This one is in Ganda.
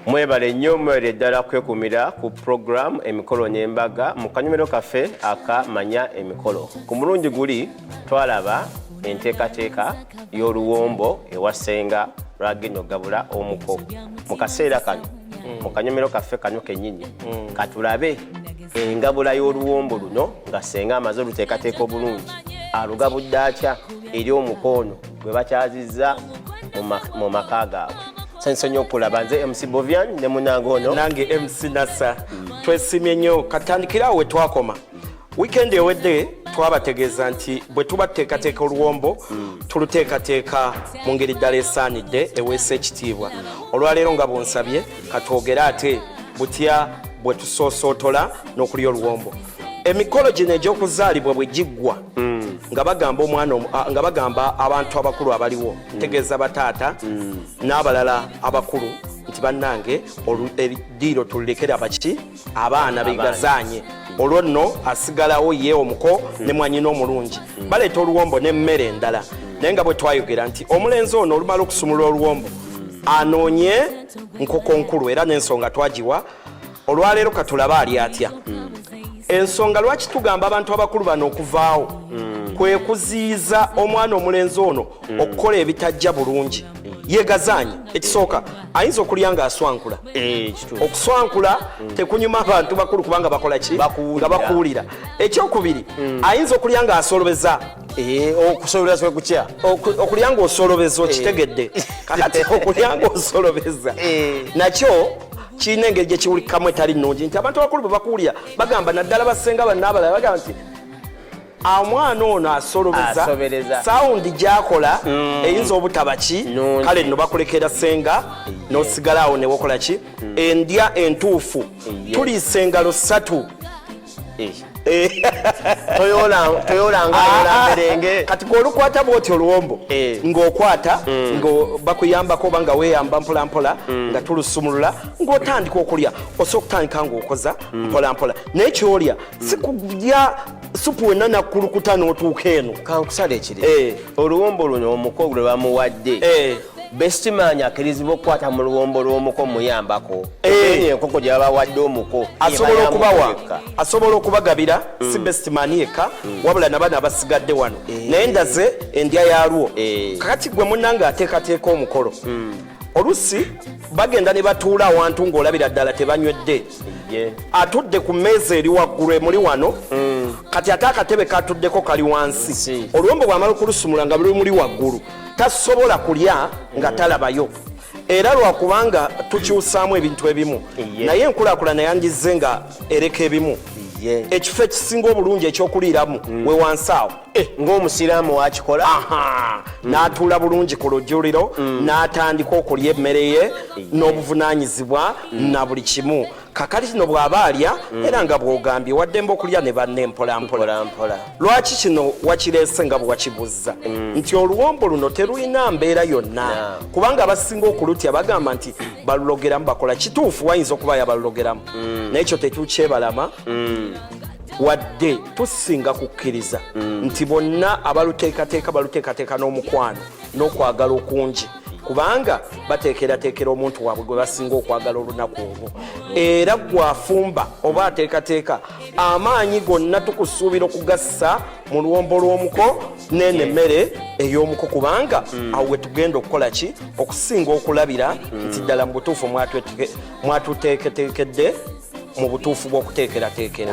mwebale nnyo mwere ddala kwekumira ku puroguramu emikolo n'embaga mu kanyumiro kaffe aka manya emikolo ku mulundi guli twalaba enteekateeka y'oluwombo ewa ssenga lwagenda okugabula omuko mu kaseera kano mu kanyomero kaffe kano kenyini katulabe engabula y'oluwombo luno nga ssenga amaze oluteekateeka obulungi alugabudde atya eri omuko ono gwe bakyazizza mu maka gaabwe sensonyi okulaba nze mc bovian ne munange ono nange mc nasa twesimye nnyo katandikirawo wetwakoma wiikendi ewedde twabategeeza nti bwe tuba tuteekateeka oluwombo mm. tuluteekateeka mu ngeri ddala esaanidde eweesa ekitiibwa olwaleero nga bwonsabye katwogere ate butya bwe tusoosootola n'okulya oluwombo emikolo gino egy'okuzaalibwa bwe giggwa mm. nga bagamba omwana nga bagamba abantu abakulu abaliwo mm. tegeeza bataata n'abalala abakulu nti bannange ediiro tululekera baki abaana begazaanye olwo nno asigalawo ye omuko ne mwanyina omulungi baleeta oluwombo n'emmere endala naye nga bwe twayogera nti omulenzi ono olumala okusumula oluwombo anoonye nkoko nkulu era n'ensonga twagiwa olwaleero katulabe ali atya ensonga lwaki tugamba abantu abakulu bano okuvaawo hmm. kwe kuziyiza omwana omulenzi ono hmm. okukola ebitajja bulungi yegazaanyi ekisooka ayinza okulya ng'aswankula Eh, okuswankula mm. tekunyuma abantu bakulu kubanga bakola ki nga bakuwulira ekyokubiri mm. ayinza okulya nga asolobeza eh, okusolobeza kutya okulya nga osolobeza eh. okitegedde kakati okulya nga osolobeza nakyo kirina engeri gyekiwulikamu etali nungi nti abantu abakulu bwe bakuwulira bagamba naddala basenga banaabalala bagamba nti omwana ono asolobeza sawundi gyakola mm. eyinza obutaba ki kale nno bakulekera senga nosigala awo newokola ki mm. endya entuufu tuliisa engalo ssatu kati gweolukwata bwoti oluwombo eh. ngaokwata mm. nga bakuyambako oba nga weyamba mpolampola mm. nga tulusumulula ngaotandika okulya osobola okutandika ngaokoza mm. mpolampola naye kyolya sikulya supu wenna nakkulukuta n'otuuka eno kankusala ekiri eh. oluwombo luno omuko lwe bamuwadde eh. bestimaanyi akirizibwa okukwata mu luwombo lw'omuko muyambako eh. enkoko gye babawadde omuko asobola okubawa asobola okubagabira mm. si bestimaani yekka mm. wabula nabana abasigadde wano naye ndaze endya yalwo kakati gwe munange ateekateeka omukolo mm. olusi bagenda ne batuula awantu ng'olabira ddala tebanywedde atudde ku mmeeza eri waggulu emuli wano mm. kati ate akatebe katuddeko kali wansi oluwombo bwamala okulusumula nga luli muli waggulu tasobola kulya nga mm. talabayo era lwakubanga tukyusaamu ebintu ebimu naye enkulaakulana yangizze nga ereka ebimu ekifo ekisinga obulungi ekyokuliiramu mm. we wansi awo Eh, ng'omusiraamu wakikola mm. n'atuula bulungi ku lujuliro mm. n'atandika okulya emmere ye eh. n'obuvunanyizibwa mm. na buli kimu kakati kino bw'aba alya era nga bw'ogambye waddemba okulya ne banna empolampola lwaki kino wakireese nga bwe wakibuzza nti oluwombo luno terulina mbeera yonna kubanga abasinga okulutya bagamba nti balulogeramu bakola kituufu wayinza okuba yabalulogeramu naye ekyo tetukyebalama wadde tusinga kukkiriza mm. nti bonna abaluteekateeka baluteekateeka n'omukwano n'okwagala okungi kubanga bateekerateekera omuntu waabwe gwe basinga okwagala olunaku olwo era gwafumba oba ateekateeka amaanyi gonna tukusuubira okugassa mu luwombo lw'omuko neeno emmere ey'omuko kubanga mm. awo we tugenda okukola ki okusinga okulabira mm. nti ddala mu butuufu mwatwetge mwatuteeketeekedde mu butuufu bw'okuteekerateekera.